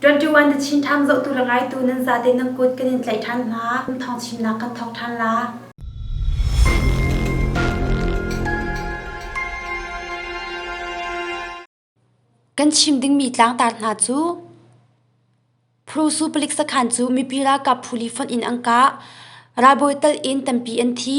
21 The Chin Times zohtu le ngaitu nan zate nan kut kan in tlaih ṭhan hna. Kum thong chimnak kan thawng ṭhan la. Kan chim dingmi tlangtar hna cu Prusu palik sakhan cu mipi ralkap phu li fonh in angka ralbawi tal in tampi an thi.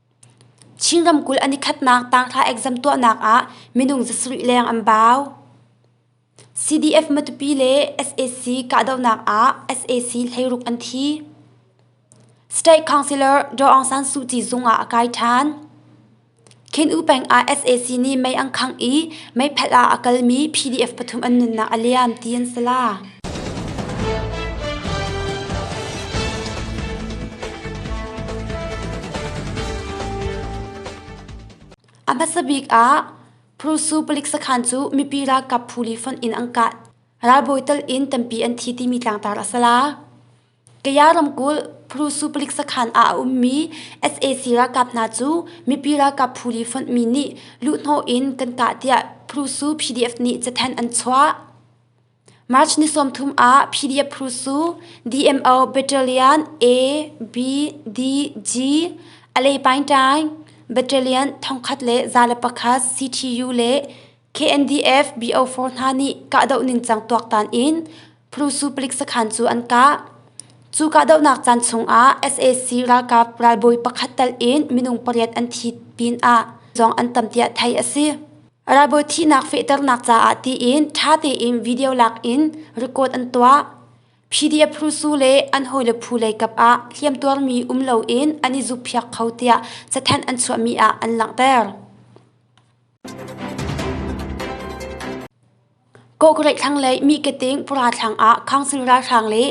Chin ramkulh an i khatnak tangthla exam tuahnak ah minung zasarih leng an bau. CDF Matupi le sac kahdohnak ah sac hleiruk an thi. State Councillor Daw Aung San Suu Kyi zung ah a kai ṭhan. Khin U peng ah sac nih mei an khangh i mei phalh ah a kalmi PDF pathum an nunnak a liam ti an si la. A hmasa bik ah Prusu palik sakhan cu mipi ralkap phuli fonh in an kah. Ralbawi tal in tampi an thi timi tlangtar a si la. Kaya ramkulh Prusu palik sakhan ah a ummi SAC ralkap hna cu mipi ralkap phuli fonh mi nih luhhnawh in kan kah tiah Prusu PDF nih cathanh an chuah. March ni sawmthum ah PDF phu su DMO Battalion A, B, D, G, Alepaintang Battalion thongkhat le za le pakhat CTU le KNDF BO4 hna nih kahdoh ningcang tuaktan in phu su palik sakhan cu an kah. Cu kahdohnak caan chungah sac ralkap ralbawi pakhat tal in minung pariat an thi pin ah zong an tam tiah theih a si. Ralbawi thihnak fehternak caah tiin ṭha tein video lakin record an tuah. PDF phu su le an hawile phu lei kap ah hliamtuarmi um loin an i zukphiak kho tiah cathanh an chuahmi ah an langhter. Kawhkulei thlang lei Miketing pura thlang ah Council ralhrang le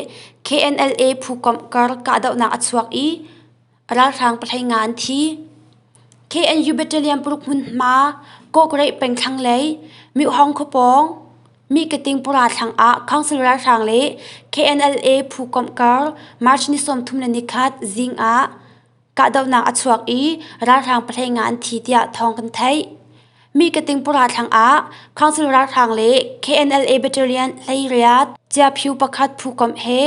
KNLA phukomh kar kahdohnak a chuak i ralhrang pathei nga an thi. KNU Battalion paruk hmunhma Kawhkulei peng thlang lei Myohong khuapawng Miketing pura thlang ah Council ralhrang le KNLA phukomh kar March ni sawmthum le nikhat zing ah kahdohnak a chuak i ralhrang pahlei nga an thi tiah thawng kan theih. Mihkating pura thlang ah council ralhrang le KNLA battalion hleiriat ciaphiu pakhat phukom he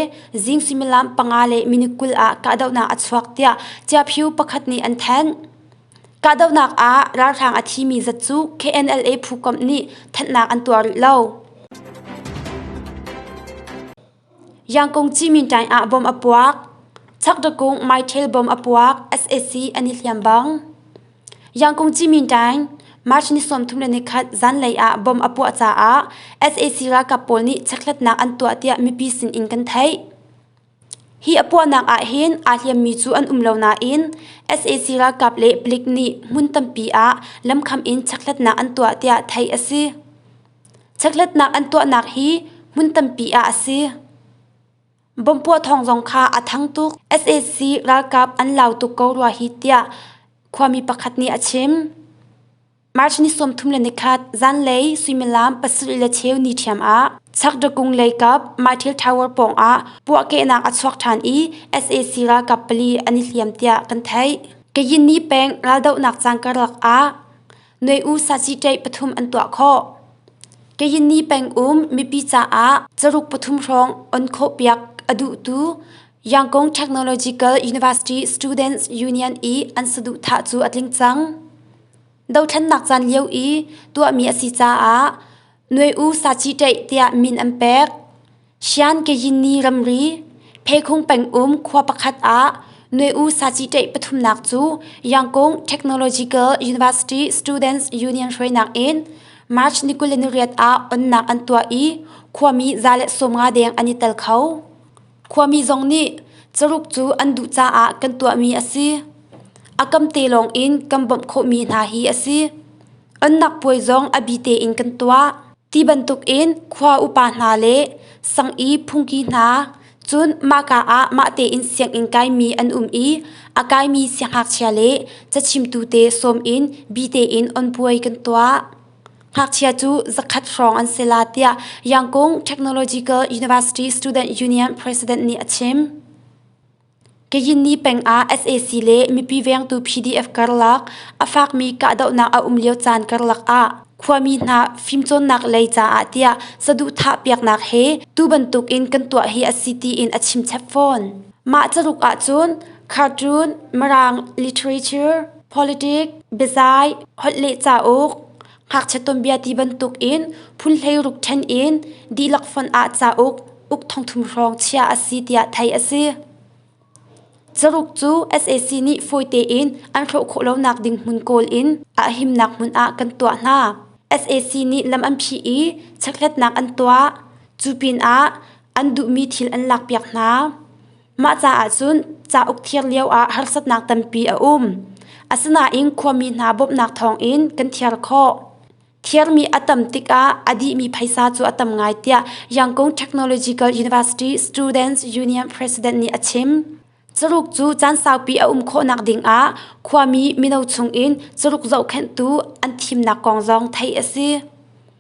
zing suimilam panga le minute kul ah kahdohnak a chuak tiah ciaphiu pakhat nih an thanh. Kahdohnak ah ralhrang a thimi zat cu KNLA phukom nih thanhnak an tuar rih lo. Yangkung Ciminṭaing ah bom a puak. Chakdakung Maiṭhel bom a puak. sac an i hliam bang. Yangkung Ciminṭaing March ni sawmthum le nikhat zanlei ah bom a puah caah sac ralkap pawl nih chekhlatnak an tuah tiah mipi sin in kan theih. Hi a puahnak ah hin aa hliammi cu an um lo nain sac ralkap le palik nih hmun tampi ah lamkham in chekhlatnak an tuah tiah theih a si. Chekhlatnak an tuahnak hi hmun tampi ah a si. Bomb puah thawng zong kha a thang tuk. sac ralkap an lau tuk ko rua hi tiah khuami pakhat nih a chim. March ni sawmthum le nikhat zanlei suimilam pasarih le cheu ni ṭhiam ah Sakdakung leikap Mytil Tower pawngah puahkehnak a chuak ṭhan i sac ralkap pali an i hliam tiah kan theih. Kayini peng raldohnak cangka lak ah Noi U saciteih pathum an tuah khawh. Kayinni peng um mipi caah caruk pathum hrawng on khawhpiak a duhtu Yangkong Technological University Students Union i an saduhthah cu a tling cang. Dothlannak caan lio i tuahmi a si caah Noi U saciteih tiah min an pek. Siangkeyini ramri Pheikhung pengum khua pakhat ah Nue-u Saciteh pathumnak cu Yangkung Technological University Students Union hruainak in March ni kul le ni riat ah onnak an tuah i khuami za le sawm nga deng an i tel kho. Khuami zong nih caruk cu an duh caah kan tuahmi a si. A kamte lawng in kan bawmh khawhmi hna hi a si. Onnak puai zong a bi tein kan tuah. Ti bantukin khua upa hna le sang i phungki hna, cun mahka ah mahte in sianginn kaimi an um i a kaimi sianghngakchia le cachimtu te sawm in bi tein on puai kan tuah. Ngakchia cu zakhat hrawng an si la tiah Yangkung Technological University Student Union president nih a chim. Kayini peng ah sac le mipi vengtu PDF karlak a fakmi kahdohnak a um lio caan karlak ah khuami hna fimcawnnak lei caah tiah saduhthah piaknak he tu bantuk in kan tuah hi a si tiin a chimchep fawn. Mah caruk ahcun cartoon, mirang literature, politic, biazai, holh le cauk, Ngakchia tuanbia ti bantuk in phunhlei ruk ṭhen in dihlak fon ah cauk uk thongthum hrawng chiah a si tiah theih a si. Caruk cu sac nih fawite in an hrawh khawh lonak ding hmun kawl in a himnak hmun ah kan tuah hna. sac nih lam an phih i chekhlatnak an tuah. Cu pinah an duhmi thil an lakpiak hna. Mah caah cun cauk thir lioah harsatnak tampi a um. Asinain khuami hna bawmhnak thawngin kan thiar khawh. Thirmi a tam tikah a dihmi phaisa cu a tam ngai tiah Yangkung Technological University Students Union President nih a chim. Caruk cu caan saupi a um khawhnak dingah khuami mino chungin caruk zohkhenhtu an thimnak kong zong theih a si.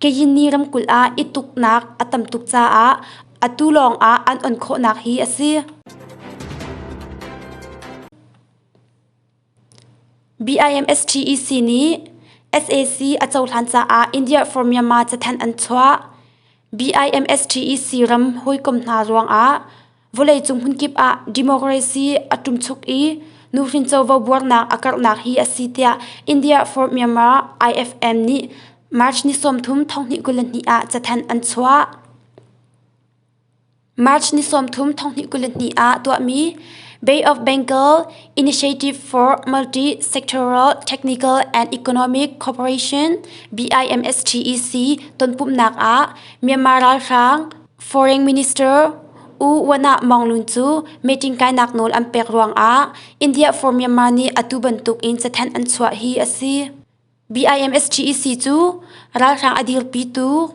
Kayini ramkulh ah i tuknak a tam tuk caah atu lawngah an on khawhnak hi a si. BIMSTEC nih SAC a cohlan caah India for Myanmar cathanh an chuah. BIMSTEC ram hawikom hna ruangah Vawleicung hmunkip ah democracy a ṭumchuk i nuhrin covo buarnak a karhnak hi a si tiah India for Myanmar IFM nih March ni sawmthum thonghnih kul le hnih ah cathanh an chuah. March ni sawmthum thonghnih kul le hnih ah tuahmi Bay of Bengal Initiative for Multi-Sectoral Technical and Economic Cooperation BIMSTEC tonpumhnak ah Myanmar ralhrang Foreign Minister U Wanah Maungluun cu meeting kainak nawl an pek ruangah India for Myanmar nih atu bantukin cathanh an chuah hi a si. BIMSTEC cu ralhrang a dirpitu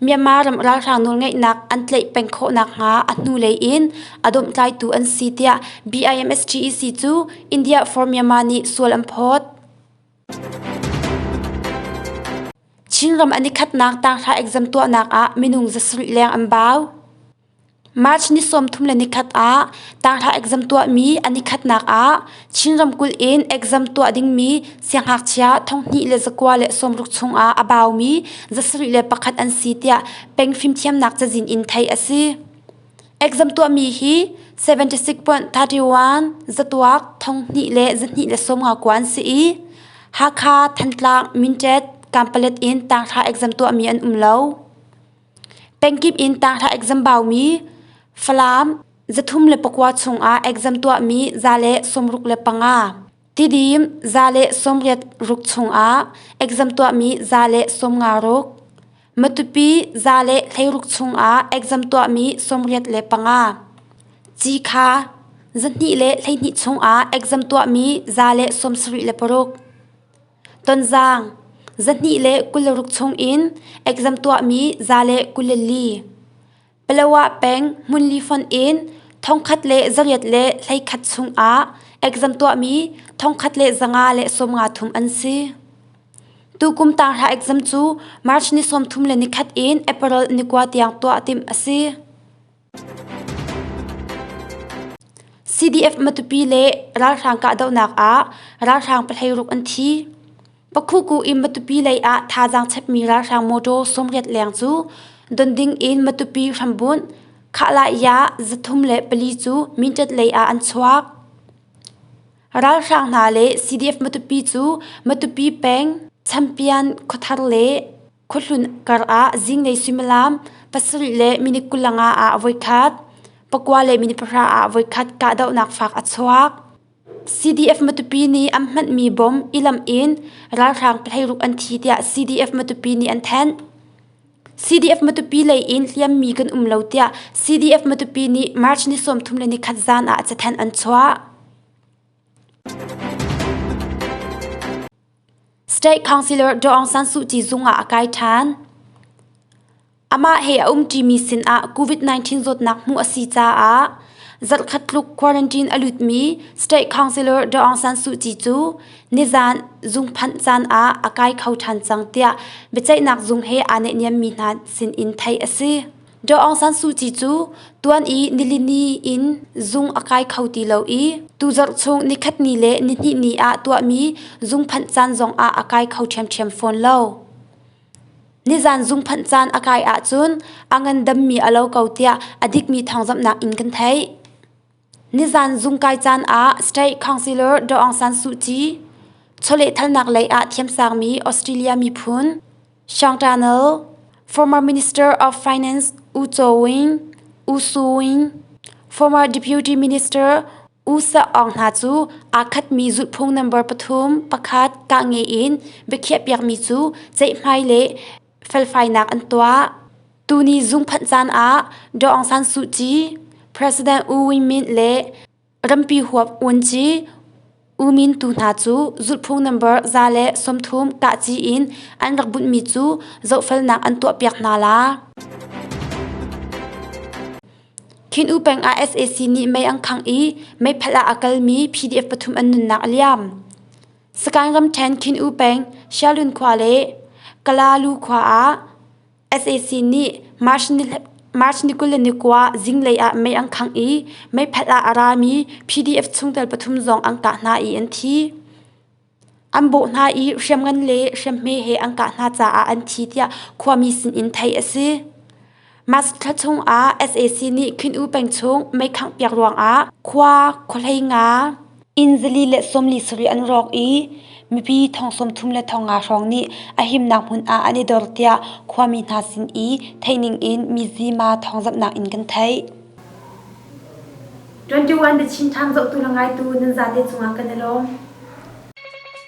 Myanmar ram ralhrang nawlngeihnak an tleih peng khawh nakhnga a hnulei in a domhtlaitu an si tiah BIMSTEC cu India for Myanmar nih sual an phawt. Chinram an i khatnak taanghra exam tuahnak ah minung zasarih leng an bau. March ni sawmthum le nikhat ah taanghra exam tuahmi an i khatnak ah Chin ramkulh in exam tuah dingmi sianghngakchia thonghnih le zakua le sawmruk chungah a baumi zasarih le pakhat an si tiah pengfimthiamnak cazin in theih a si. Exam tuahmi hi 76.31 zatuak thong hnih le zahnih le sawm nga kuan si i Hakha, Thantlang, Mintet, Kanpalet in tangthla exam tuahmi an um lo. Pengkip in tangthla exam baumi Falam zathum le pakua chungah exam tuahmi za le sawmruk le panga Tidim za le sawmriat ruk chungah exam tuahmi za le sawmnga ruk, matupi za le hleiruk chungah exam tuahmi sawmriat le panga, cikha zahnih le hleihnih chungah exam tuahmi za le sawmsarih le paruk, tonzang zahnih le kul le ruk chungin exam tuahmi za le kul le li. Palawa peng hmunli fonh in thongkhat le zariat le hleikhat chungah exam tuahmi thongkhat le zanga le sawmnga thum an si. Tukum tanghra exam cu March ni sawmthum le nikhat in April nikua tiang tuah timh a si. CDF Matupi le ralhrang kahdohnak ah ralhrang pahlei ruk an thi. Pakhuku in Matupi lei ah thazaang chepmi ralhrang motor sawmriat leng cu don ding in Matupi hrambunh Khahla-ya zathum le pali cu Mindat lei ah an chuak. Ralhrang hna le CDF Matupi cu Matupi peng Champian khuathar le khuahlun kar ah zinglei suimilam pasarih le minit kulanga ah voikhat, pakua le minit pahra ah voikhat kahdohnak fak a chuak. CDF Matupi nih an hmanhmi bom i lamh in ralhrang pahleiruk an thi tiah CDF Matupi nih an thanh. CDF Matupi lei in hliammi kan um lo tiah CDF Matupi nih March ni sawmthum le ni khat zan ah cathanh an chuah. State Councillor Aung San Suu Kyi zung ah a kai ṭhan. Amah he a umṭimi sinah COVID-19 zawtnak hmuh a si caah zarhkhat tluk quarantine a lutmi State Councillor Aung San Suu Kyi cu nizaan zung phanh caan ah a kai kho ṭhan cang tiah biaceihnak zung he aa naihniammi hna sinin theih a si. Daw Aung San Suu Kyi cu tuan i nilini in zung a kai kho ti lo i tu zarh chung nikhatni le nihnihni ah tuahmi zungphanh caan zong ah a kai kho ṭhiamṭhiam fawn lo. Nizan zungphanh caan a kai ahcun a ngandammi a lo ko tiah a dikmi thawngzamhnak in kan theih. Nizan zungkai caan ah State Councillor Daw Aung San Suu Kyi chawlehthalnak lei ah thiamsangmi Australia miphun Sean Turnell, former Minister of Finance U Chaw Wing, U Su Wing, former Deputy Minister U Sak Aung hna cu aa khatmi zulhphung nambar pathum pakhat kah nge in biakhiahpiakmi cu ceihmai le felfainak an tuah. Tuni zungphanh caan ah Daw Aung San Suu Kyi, President U Win Myint le rampi huap Uan Kyi U Min tu hna cu zulhphung nambar za le sawmthum kahci in an rak bunhmi cu zohfelnak an tuahpiak hna la. Khin U peng ah sac nih mei an khang i meiphalh ah a kalmi PDF pathum an nunnak a liam. Sakaing ramṭhen Khin-u peng Xialun khua le Kalalu khua ah sac nih March ni kul le ni kua zinglei ah mei an khangh i meiphat ah a rami PDF chungtel pathum zong an kah hna i an thi. An bawh hna i hriamngan le hriamhme he an kah hna caah an thi tiah khuami sinin theih a si. March thla chungah sac nih Khuyinu peng chung meikhangh piak ruangah khua khuahlei nga inn zali le sawmli sarih an rawk i mipi thong sawmthum le thong nga hrawng nih a himnak hmun ah an i dor tiah khuami hna sin i theih ning in mizima thawngzamhnak in kan theih. 21 The Chin Times zohtu le ngaitu nan zate cungah kan i lawm.